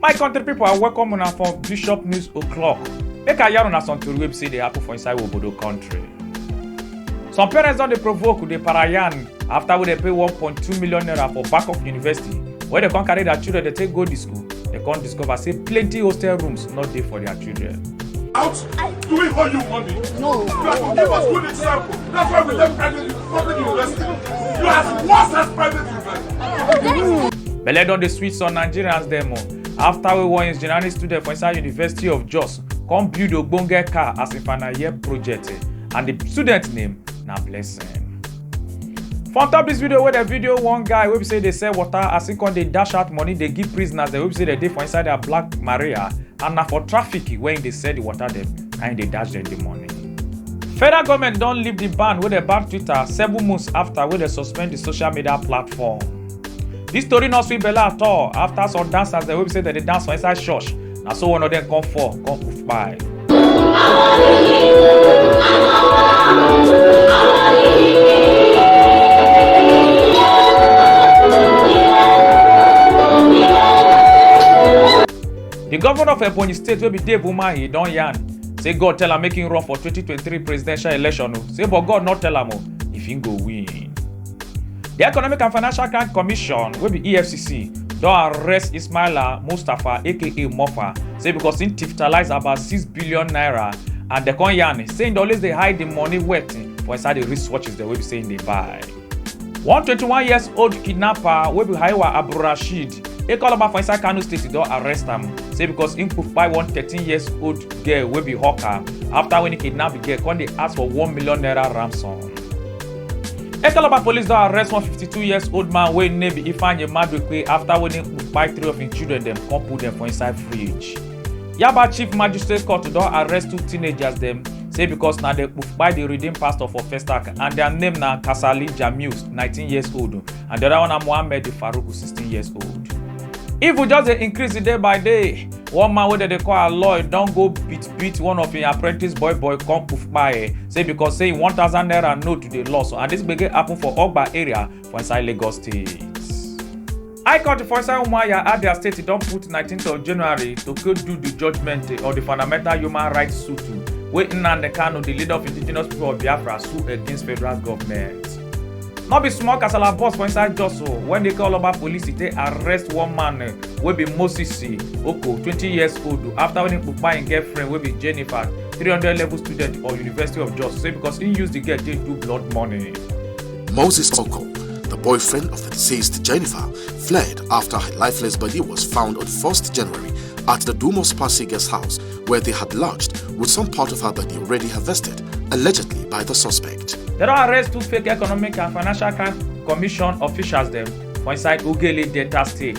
my country people, i welcome una for bishop news o'clock make i yarn una some tori wey be say dey happen for inside obodo country some parents don dey provoke dey parayan after wey dey pay 1.2 million naira for back of university wey dey come carry their children dey take go di school They can't discover say plenty hostel rooms not there for their children. Out doing what you want. No. You have to give us good example. That's why we left private public university. You are as worse as private university. Belle don dey sweet some Nigerians dem o. After we won engineering student for inside University of Jos, come build ogbonge car as a final year project eh, and the student name na Blessing. for on top dis video wey dem video one guy wey be say dey sell water as he come dey dash out money dey give prisoners dem wey be say dem dey for inside their black maria and na for traffic wey he dey sell the water dem na he dey dash dem the money. federal government don lift di ban wey dem ban twitter seven months afta wey dem suspend di social media platform. dis tori no sweet belle at all afta some dancers dem wey be say dem dey dance for inside church na so one of them come fall come kpai. The governor of Ebonyi State wey be Dave Umahi don yarn say God tell am make him run for 2023 presidential election o say but God no tell am o if him go win. di economic and financial crime commission wey be efcc don arrest ismaila mustapha aka mofa say becos im tiftalise about six billion naira and dem come yarn say im dey always dey hide di money worth for inside di wristwatches dem wey be say im dey buy. one twenty one years old kidnapper wey be haiwa abdulrasheed ekoloma for inside kano state don arrest am say becos im kpai one thirteen years old girl wey be hawker afta wen e kidnap di girl come dey ask for one million naira ransom. Ekalaba police don arrest one 52 years old man wey name be Ifeanyi Maduekwe after wey him kpai three of him children dem come put dem for inside fridge. Yaba Chief Magistrate Court don arrest two teenagers dem say because na dem kpai the redeemed pastor for Festac and their name na Kasali Jamius 19 years old and the other one na Mohammed Farouk 16 years old. Evil just dey increase day by day. one man wey dem dey call aloy don go beat beat one of im apprentice boy boy come kpai e say because say im one thousand naira note dey lost and dis gbege happen for ogba area for inside lagos state. high court for inside umuahia abia state don put 19th of january to go do di judgement of di fundamental human rights suit wey nnamdi kanu di leader of indigenous people of biafra sue against federal goment. no be small kasala burst for inside jos o wen dey call oba police take arrest one man eh, wey be moses eh, oko twenty years old after wen he kpupa im girlfriend wey be jennifer three hundred level student for university of jos say because he use the girl take do blood money. Moses Oko, the boyfriend of the deceased Jennifer, fled after her lifeless body was found on 1st January at the Dumos Passy guest house, where they had lodged with some part of her body already harvested allegedly by the suspect. They don arrest two fake economic and financial crime commission officials dem for inside Ugele Delta State.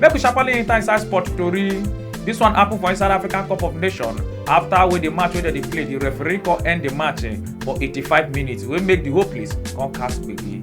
Make we sharply enter inside sport tori. This one happen for inside African Cup of Nations after wey the match wey dem dey play the referee come end the match eh, for 85 minutes wey make the whole place come cast gbege.